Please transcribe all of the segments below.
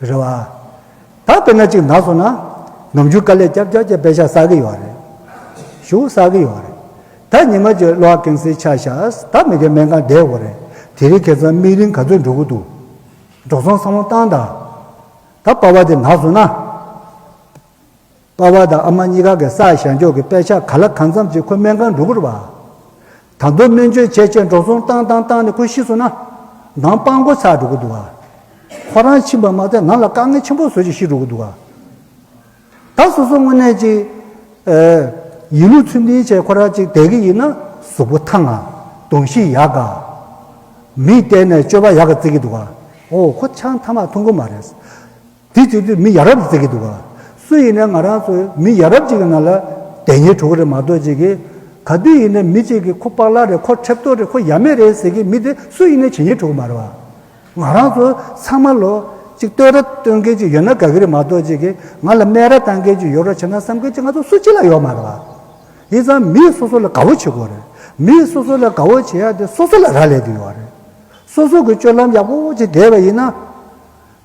རེད་བ། ད་དཔེར་ན་གཅིག་ན་སོང་ན། ནམ་རྒྱུན་དཀའ་ལས་སྐྱབས་སྐྱབས་ཀྱི་དཔེ་ཆ་བསགས་ཀྱི་ཡོད་རེད། ཞུ་བསགས་ཀྱི་ཡོད་རེད། ད་ཉི་མ་གཅིག་གློག་ཀན་སིའི་ཆ་བཞག་ད་མི་གི་སྨན་ཁང་བསྡད་དགོས་རེད། དེ་རིང་ཁེ་ཚང་དམིགས་རིང་ག་ཚོད་འགྲོ་གི་འདུག། འགྲོ་སོང་བསམ་བློ་བཏང་དང། ད་དཔའ་བ་དེ་ན་སོང་ན། པ་བ་དང་ཨ་མ་གཉིས་ཀ་གི་སར་བཞག་འཇོག་གི་དཔེ་ཆ་ག་ལ་གང་འཚམས་ཅིག་ཁོ་སྨན་ཁང་འགྲོ་གི་རུ་བ། དང་པོ་སྨན་བཅོས་བྱས་བྱས་འགྲོ་སོང་བཏང་བཏང་བཏང་ནས་ཁོ་ཤི་སོང་ན། འདང་དཔང་འགོ་ཚར་འགྲོ་གི་འདུག་ཨ། ཁོ་རང་ཕྱིན་པ་མ་ཚད་ང་ལ་དཀའ་ངལ་ཆེན་པོ་བཟོ་བཞིན་ཤི་འགྲོ་གི་འདུག་ཨ། ད་སོ་སོ་དངོས་གནས་ཅིག། ཡིན་ལུགས་ཚུལ་མིན་བྱས་ཁོ་རང་ཅིག་བསྡད་གི་ཡིན་ན་གཟུགས་པོ་ཐང་ཨ། གདོང་བཞི་ཡག་ག། མིག་གཏད་ནས་སྤྱོད་པ་ཡག་ག་བརྩི་གི་འདུག་ཨ། ཨོ་ཁོ་ཆང་ཐ་མག་འཐུང་གི་མ་རེད། དེ་ཅིག་ཏུ་མི་ཡ་རབས་ཟེར་གྱི་འདུག་ག། སུ་ཡིན་ན་ང་རང་ཚོའི་མི་ཡ་རབས་ཅིག་གི་ནང་ལ་དེ་ཉིད་གྲུ་གུ་རེ་མ་གཏོགས་ཅིག་གིས། ག་དུས་ཡིན་ན་མི་ཅིག་གིས་ཁོ་པག་ལག་རེད་ཁོ་ཁྲེབ་ཏོག་རེད་ཁོ་ཡ་མེད་རེད་ཟེར་གྱི་མི་དེ་སུ་ཡིན་ན་ཇི་སྙེད་གྲུ་གུ་མ་རེད་བ། ང་རང་ཚོ་ཚང་མ་ལོ་ཅིག་ལྟོས་ར་སྟོན་མཁན་ཅིག་ཡོད་ན་ག་གི་རེ་མ་གཏོགས་ཅིག་གིས་ང་ལ་སྨད་ར་བཏང་མཁན་ཅིག་ཡོད་རོགས་བྱེད་ན་བསམ་མཁན་ཅིག་ང་ཚོ་སུ་གཅིག་ལ་ཡོད་མ་རེད་བ། ཡིན་ཙང་མིས་སོ་སོ་ལ་དགའ་བོ་བྱེད་དགོས་རེད། མིས་སོ་སོ་ལ་དགའ་བོ་བྱེད་ཡ་དེ་སོ་སོ་ལ་རག་ལས་ཀྱི་ཡོད་བ་རེད། སོ་སོ་གི་སྤྱོད་ལམ་ཡག་པོ་བོ་ཅིག་བསྡད་པ་ཡིན་ན།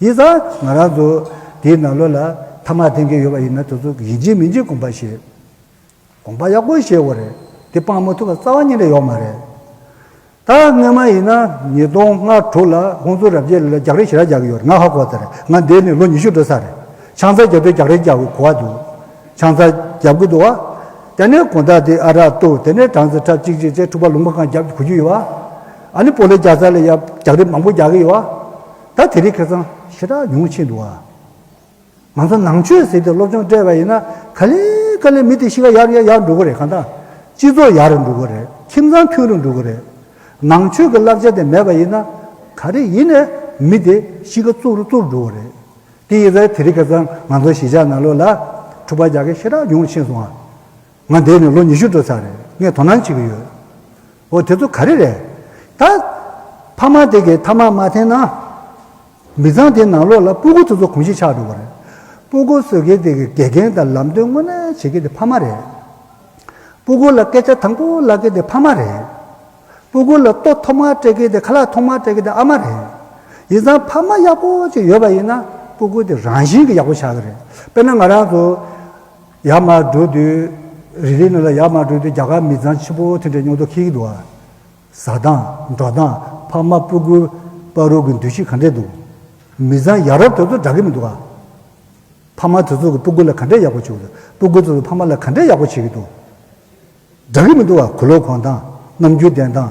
ཡིད་ལ་ང་རང་ཚོ་དེའི་ནང་ལོགས་ལ་ཐ་མག་འཐེན་གྱི་ཡོད་པ་ཡིན་ན་དེ་ཚོ་ཡིན་གཅིག་མིན་གཅིག་དགོངས་པ་བཞེས། དགོངས་པ་ཡག་པོ་བཞེས་དགོས་རེད་དེ་སྤང་མ་ཐུབ་པ་རྩ་བ་ཉིད་ལས་ཡོག་མ་རེད། ད་སྔོན་མ་ཡིན་ན་ཉིས་སྟོང་ལྔ་དྲུག་ལ་ཁོང་ཚོ་རབ་རྒྱས་ལ་རྒྱག་རེས་ཞེ་དྲག་རྒྱག་གི་ཡོད་རེད་ང་ཧ་གོ་ཚར་རེད་ང་འདས་ནས་ལོ་ཉི་ཤུ་འགྲོ་ས་རེད་ཆང་ཚ་རྒྱབ་པའི་རྒྱག་རེས་རྒྱག་གི་གོ་བ་འདུག་ཆང་ཚ་རྒྱབ་གི་འདུག་བ། དེ་ནས་གོང་ད་དེ་ཨ་རག་བཏུག་དེ་ནས་གྲངས་ཚ་ཁྲབ་ཅིག་ཅིག་ཚེ་ཕྲུག་པ་ལུང་པ་གང་རྒྱབ་གི་གོ་རྒྱུ་ཡོད་བ། ཨ་ནི་པོ་ལེ་རྒྱག་ཚ་ལ་ཡ་རྒྱག་རེས་མང་པོ་རྒྱག་གི་ཡོད་བ། ད་དེ་རིགས་ཁེ་གཙང་ཞེ་དྲག་ཉུང་ཆེ་འདུག་ཨ། ང་ཚོ་ནང་ཆོས་ཟེར་ཏེ་སློབ་སྦྱོང་སྤྲད་པ་ཡིན་ན་ག་ལེ་ག་ལེ་མི་དེ་གཤིས་ཀ་ཡག་ཡག་ཡག་འགྲོ་གི་རེད་གང་ལྟ། སྤྱི་ཚོགས་ཡག་རེ་འགྲོ་གི་རེད་ཁྱིམ་ཚང་མཐུན་རེ་འགྲོ་གི་རེད། ནང་ཆོས་ཀྱི་བསླབ་བྱ་དེ་མེད་པ་ཡིན་ན་ག་རེ་ཡིན་ནས་མི་དེ་གཤིས་ཀ་བཙུར་བཙུར་འགྲོ་གི་རེད། དེ་ཡིན་ཟེར་དེ་རིགས་ཁེ་གཙང་ང་ཚོ་གཞིས་ཆགས་ནང་ལོག་ལ་འཁྲུག་པ་རྒྱག་མཁན་ཞེ་དྲག་ཉུང་ཆེ་སོང་ཨ། ང་འདས་ནས་ལོ་ཉི་ཤུ་འགྲོ་ཚར་རེད་ངས་དོ་སྣང་བྱེད་ཀྱི་ཡོད། འོ་དེ་ཚོ་ག་རེ་རེད། ད། ཕ་མ་དེ་གས་ཐ་མག་མ་འཐེན་ན། མི་ཚང་དེའི་ནང་ལོགས་ལ་སྤུ་གུ་ཚོ་ཚོ་གོང་བཞིན་ཆགས་འགྲོ་བ་རེད། སྤུ་གུ་བཟོས་མཁན་དེ་གས་དགེ་རྒན་དང་ལམ་སྟོན་དངོས་གནས་བྱེད་མཁན་དེ་ཕ་མ་རེད། སྤུ་གུ་ལ་སྐད་ཆ་དང་པོ་ལབ་མཁན་དེ་ཕ་མ་རེད། སྤུ་གུ་ལ་ལྟོ་ཐོག་མར་སྤྲད་མཁན་དེ་ཁ་ལག་ཐོག་མར་སྤྲད་མཁན་དེ་ཨ་མ་རེད། ཡིན་ཙང་ཕ་མ་ཡག་པོ་ཅིག་ཡོད་པ་ཡིན་ན་སྤུ་གུ་དེ་རང་བཞིན་གྱིས་ཡག་པོ་ཆགས་ཀྱི་རེད། དཔེར་ན་ང་རང་ཚོ། ཡར་མར་འགྲོ་དུས། རི་རེའི་སྣོད་ལ་ཡར་མར་འགྲོ་དུས་རྒྱ་གར་མི་ཚང་ཆེན་པོ་དེ་འདྲའི་སྙོག་དོ་ཁིག་ཁིག་འདུག་ཨ། བཟའ་སྟངས། འགྲོ་སྟངས། ཕ་མ་སྤུ་སྐུ། དཔའ་རུ་གི་འདུ་ཤེས་ག་འདྲས་འདུག། མི་ཚང་ཡ་རབས་དེ་ཚོ་འདྲ་གི་མི་འདུག་ཨ། ཕ་མ་དེ་ཚོ་གི་སྤུ་སྐུ་ལ་ག་འདྲས་ཡག་པོ་བྱེད་ཀྱི་འདུག་སྤུ་སྐུ་དེ་ཚོ་ཕ་མ་ལ་ག་འདྲས་ཡག་པོ་བྱེད་ཀྱི་འདུག། འདྲ་གི་མི་འདུག་ཨ་གུ་ལོག་གོང་སྟངས། རྣམ་འགྱུར་བསྟན་སྟངས།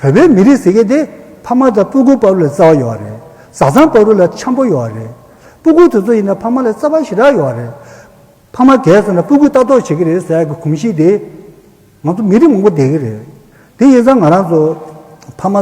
བོད་པའི་མི་རིགས་ཟེར་མཁན་དེ་ཕ་མ་དང་སྤུ་གུ་དཔའ་བོ་ལས་རྩ་བ་ཡོད་རེད། བཟའ་ཚང་དཔའ་བོ་ལས་འཁྱམ་པོ་ཡོད་རེད། སྤུ་གུ་དེ་ཚོ་ཡིན་ན་ཕ་མ་ལས་རྩ་བ་ཞེ་དྲག་ཡོད་རེད། ཕ་མ་གས་སོང་ན་སྤུ་གུ་ལྟ་རྟོག་བྱེད་ཀྱི་རེད་ཟེར་གྱི་གོམས་གཤིས་དེ། ང་ཚོ་མི་རིགས་མང་པོ་བསྡད་ཀྱི་རེད། དེ་ཡིན་ཙང་ང་རང་ཚོ་ཕ་མ།